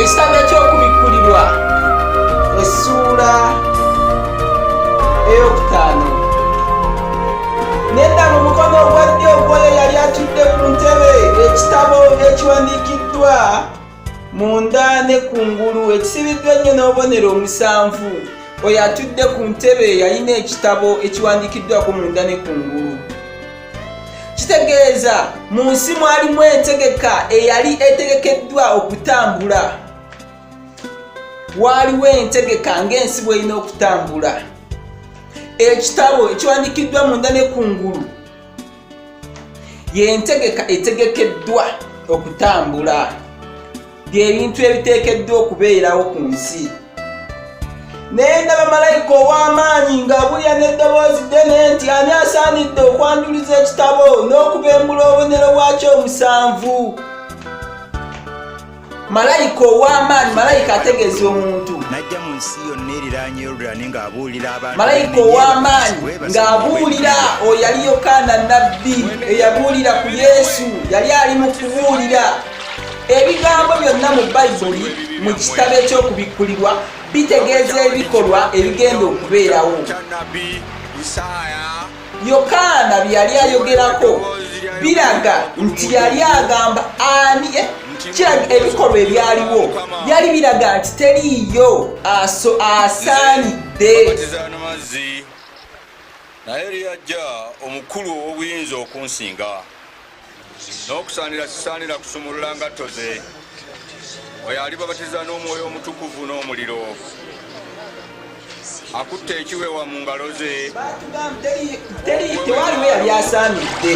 ekitanda ky'okubikkulirwa essuula eyokutaano nedda mu mukono ogwa ddyo ogwoyo yali atudde ku ntebe ekitabo ekiwandiikiddwa munda ne ku ngulu ekisibiddwa ennyo n'obubonero omusanvu oyo atudde ku ntebe yalina ekitabo ekiwandiikiddwako munda ne ku ngulu kitegeeza mu nsi mwalimu entegeka eyali etegekeddwa okutambula waaliwo entegeka ng'ensi bw'erina okutambula ekitabo ekiwandikiddwa munda ne kungulu y'entegeka etegekeddwa okutambula by'ebintu ebiteekeddwa okubeerawo ku nsi naye ndaba malayika ow'amaanyi ng'abulya n'eddoboozi ddene nti ani asaanidde okwanjuluza ekitabo n'okubembula obubonero bwakyo omusanvu malayika ow'amaanyi malayika ategeeza omuntu najja mu nsi yonna eriraanye yoludani ng'abuulira abantu malayika ow'amaanyi ng'abuulira oyo yali yokaana nabbi eyabuulira ku yesu yali ali mu kubuulira ebigambo byonna mu bayibuli mu kitabo eky'okubikkulirwa bitegeeza ebikolwa ebigenda okubeerawo yokaana bye yali ayogerako biraga nti yali agamba ani eh, kiraga ebikolwa ebyaliwo byali biraga nti teriiyo aso asaanidde naye lyajja omukulu ow'obuyinza okunsinga n'okusaanira sisaanira kusumulula ngatto ze oyo alibabatiza n'omwoyo omutukuvu n'omuliro akutte ekiwewa mu ngalo ze tewaliwo yali asaanidde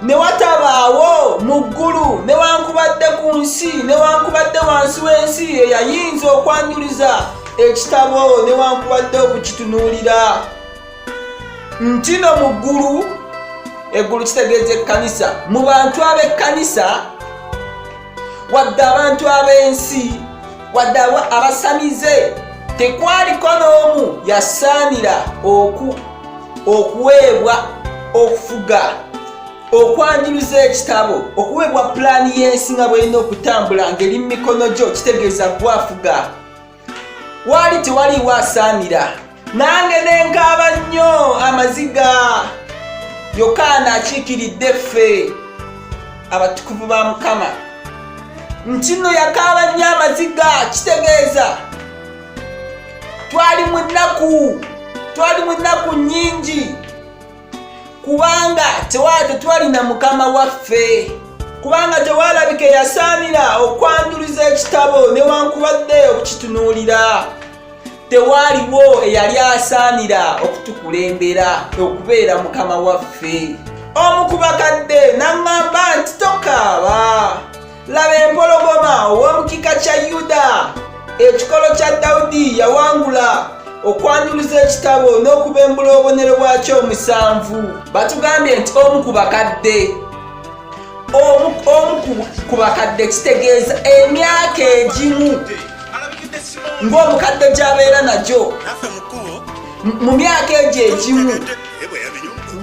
ne watabaawo mu ggulu newankubadde ku nsi newankubadde wansi w'ensi eyayinza okwanjuliza ekitabo newankubadde okukitunuulira ntino mu ggulu eggulu kitegeeza ekkanisa mu bantu ab'ekkanisa wadde abantu ab'ensi wadde abasamize tekwaliko n'omu yasaanira okuweebwa okufuga okwanjuluza ekitabo okuweebwa pulaani y'ensi nga bw'erina okutambula ng'eri mu mikono gyo kitegeeza gwafuga waali tewaliiwo asaanira nange nenkaaba nnyo amaziga yokaana akiikiridde ffe abatukuvu ba mukama nti nno yakaaba nnyo amaziga kitegeeza twali mu nnaku twali mu nnaku nnyingi kubanga tewali tetwalina mukama waffe kubanga tewalabika eyasaanira okwanjuluza ekitabo newankubadde okukitunuulira tewaaliwo eyali asaanira okutukulembera okubeera mukama waffe omu ku bakadde n'aŋŋamba nti tokaaba laba empologoma ow'omukika kya yuda ekikolo kya dawudi yawangula okwanjuluza ekitabo n'okubembula obubonero bwakyo omusanvu batugambye nti omu ku bakadde omu ku bakadde kitegeeza emyaka egimu ng'omukadde gy'abeera nagyo mu myaka egyo egimu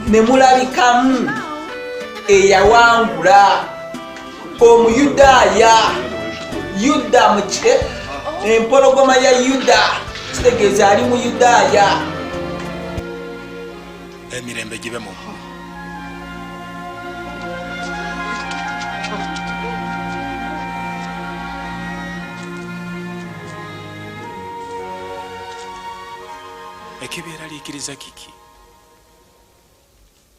ne mulabikamu eyawangula omuyudaaya yuda muke empologoma ya yuda kitegeeza ali mu yudaaya emirembe gibe mu ekibeeraliikiriza kiki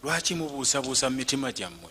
lwaki mubuusabuusa mu mitima gyammwe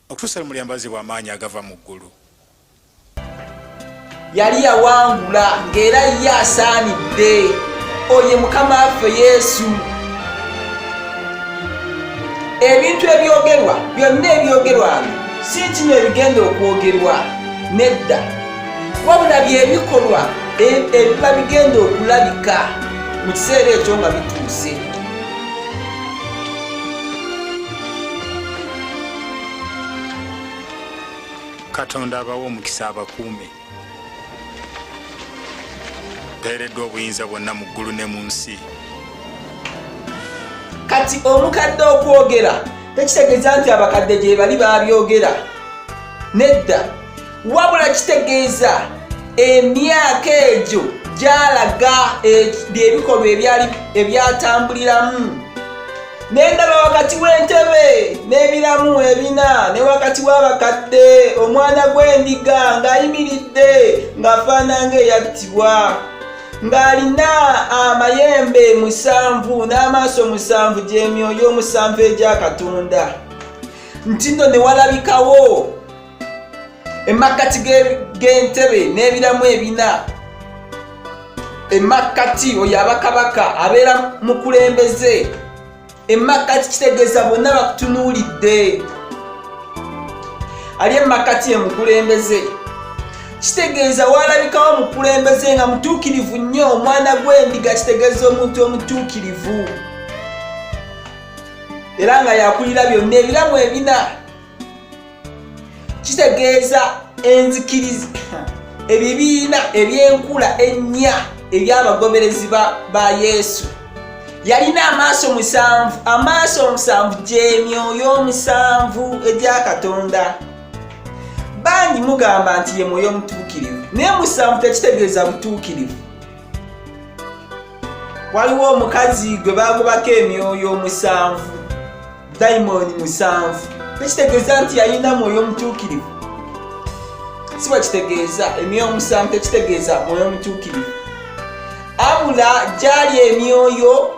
Okutuusa lwe mulyambazibwa amaanyi agava mu ggulu. Yali yawangula ng'era ye asaanidde. Oye Mukama waffe Yesu. Ebintu ebyogerwa byonna ebyogerwa si kino ebigenda okwogerwa nedda, wabula bye bikolwa e-, ebiba bigenda okulabika mu kiseera ekyo nga bituuse. katonda abawa omukisa abakuume beereddwa obuyinza bwonna mu ggulu ne mu nsi kati omukadde okwogera tekitegeeza nti abakadde gyebali babyogera nedda wabula kitegeeza emyaka egyo gyalaga eh, byebikolwa ebyali ebyatambuliramu nendaba wakati w'entebe n'ebiramu ebina ne wakati w'abakadde omwana gw'endiga ng'ayimiridde ng'afaana ng'eyattibwa ng'alina amayembe musanvu n'amaaso musanvu gy'emyoyo omusanvu egya katonda nti nno ne walabikawo emakkati g'entebe n'ebiramu ebina emakkati oyo abakabaka abeera mukulembeze emakkati kitegeeza bonna bakutunuulidde ali emakkati emukulembeze kitegeeza waalabikawo omukulembeze nga mutuukirivu nnyo omwana gw'endiga kitegeeza omuntu omutuukirivu era nga yakulira byonna ebiramu ebina kitegeeza enzikiriza ebibiina ebyenkula ennya ebyabagoberezi ba yesu yalina amaaso musanvu amaaso omusanvu gyemyoyo omusanvu egya katonda bangi mugamba nti ye mwoyo omutuukirivu naye musanvu tekitegeeza butuukirivu waliwo omukazi gwe bagobako emyoyo omusanvu dayimooni musanvu tekitegeeza nti yalina mwoyo omutuukirivu si bwekitegeeza emyoyo omusanvu tekitegeeza mwoyo omutuukirivu abula gyali emyoyo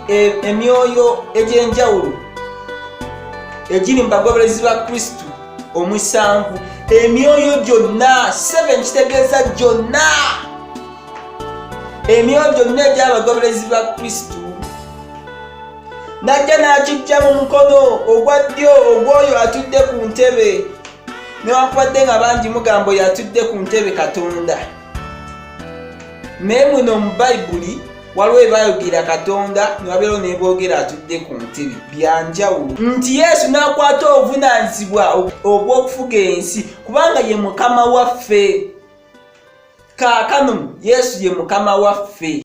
e, emyoyo egy'enjawulo egiri mu bagoberezi ba kristo omusanvu emyoyo gyonna seven kitegeeza gyonna emyoyo gyonna egy'abagoberezi ba kristo n'ajja n'akiggya mu mukono ogwa ddyo ogw'oyo atudde ku ntebe newankubadde nga bangi mugambo yatudde ku ntebe katonda naye muno mu bayibuli waliwo ebayogera katonda newabeerawo neboogera atudde ku ntebe byanjawulo nti yesu n'akwata obuvunanyizibwa obw'okufuga ensi kubanga ye mukama waffe kaakano yesu ye mukama waffe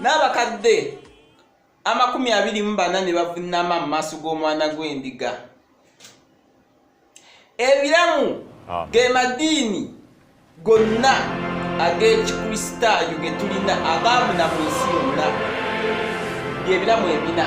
n'abakadde amakumi abiri mu bana ne bavunnama mu maaso g'omwana gw'endiga ebiramu ah. ge madiini gonna ag'ekikristaayo ge tulina agaamu na mu nsi yonna byebiramu ebina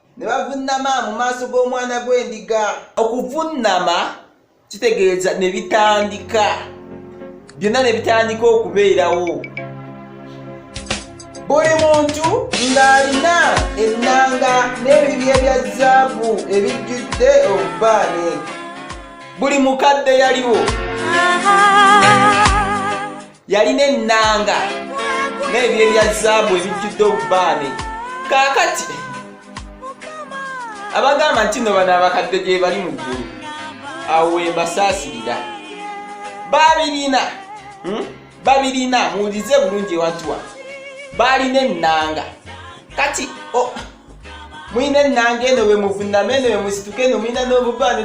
ne bavunnama mu maaso g'omwana gw'endiga okuvunnama kitegeeza ne bitandika byonna ne bitandika okubeerawo buli muntu ng'alina ennanga n'ebibi ebya zaabu ebijjudde obubaane buli mukadde yaliwo yalina ennanga n'ebyo ebya zaabu ebijjudde obubaane kaakati abagamba nti no bano abakadde gye bali mu ggulu awo wembasaasirira babirina hmm? babirina muwulize bulungi ewantuwa baalina ennanga kati mulina ennanga eno bwe muvunama eno bwe musituka eno mulina n'obubaane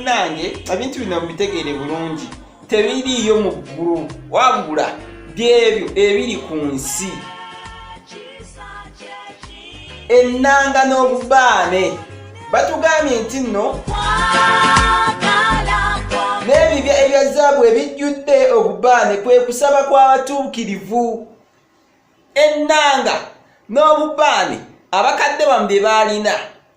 nange ebintu bino mubitegeere bulungi tebiriiyo mu ggulu wabula byebyo ebiri ku nsi ennanga n'obubaane batugambye nti nno n'ebibya ebya zaabu ebijjudde obubaane kwe kusaba kw'abatuukirivu ennanga n'obubaane abakadde bamu bye baalina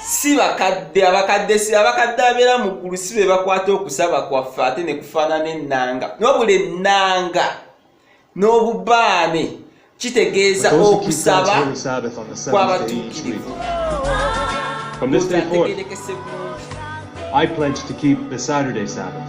si bakadde abakadde si abakadde abeera mu ggulu si be bakwata okusaba kwaffe ate ne kufaanana ennanga nobula ennanga n'obubaane kitegeeza okusaba kw'abatuukirivu From this day forth, I pledge to keep the Saturday Sabbath.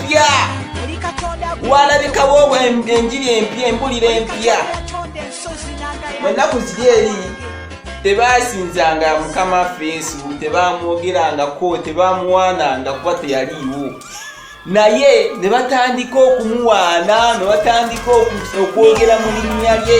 mpya walabikawo enjiri empya embulira empya ennaku ziri eri tebasinzanga mukama waffe yesu tebamwogerangako tebamuwaananga kuba teyaliiwo naye ne batandika okumuwaana ne batandika okwogera mu linnya lye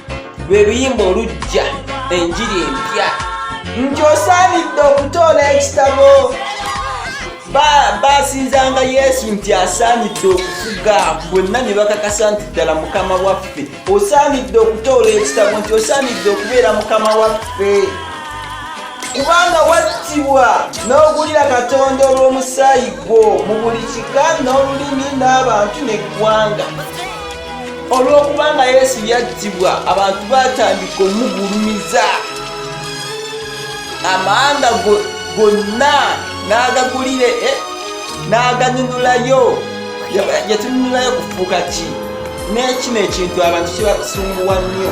lwe luyimba olujja enjiri empya nti osaanidde okutoola ekitabo basinzanga yesu nti asaanidde okufuga bonna ne bakakasa nti ddala mukama waffe osaanidde okutoola ekitabo nti osaanidde okubeera mukama waffe kubanga wattibwa n'ogulira katonda olw'omusaayi gwo mu buli kika n'olulimi n'abantu n'eggwanga olw'okubanga yesu yattibwa abantu batandika omugulumiza amawanga gonna n'agagulire eh, n'aganunulayo yatununulayo kufuuka ki n'ekino ekintu abantu kibasunguwa nnyo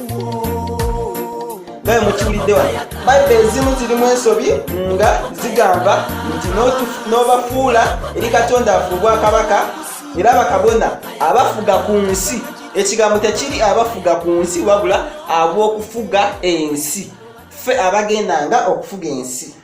naye mukiwulidde wano bayibuli ezimu zirimu ensobi nga zigamba nti n'obafuula eri katonda afu obwakabaka era bakabona abafuga ku nsi ekigambo tekiri abafuga ku nsi wabula ab'okufuga ensi ffe abagendanga okufuga ensi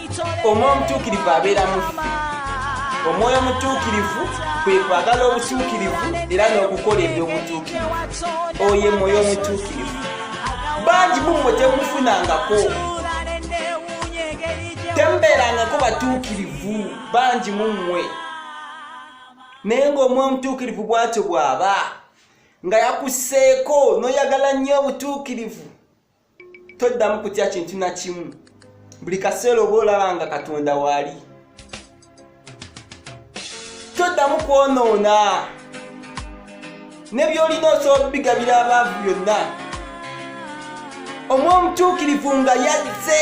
omwoyo omutuukirivu abeera mufi omwoyo omutuukirivu kwe kwagala obutuukirivu era n'okukola ebyobutuukirivu oyo mwoyo omutuukirivu bangi mumwe temufunangako temubeerangako batuukirivu bangi mumwe naye ng'omwoyo omutuukirivu bwatyo bw'aba nga yakuseeko n'oyagala nnyo obutuukirivu toddamu kutya kintu na kimu buli kaseera oba olaba nga katonda waali toddamu kwonoona ne byolina osobola bigabira abaavu byonna omwomutuukirivu nga yazze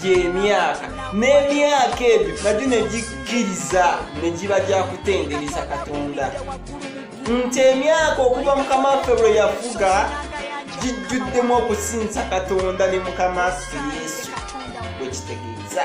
gy'emyaka n'emyaka ebyo nagyo ne gikkiriza ne giba gya kutendereza katonda nti emyaka okuva mukama waffe lwe yafuga gijjuddemu okusinza katonda ne mukama waffe yesu bwe kitegeeza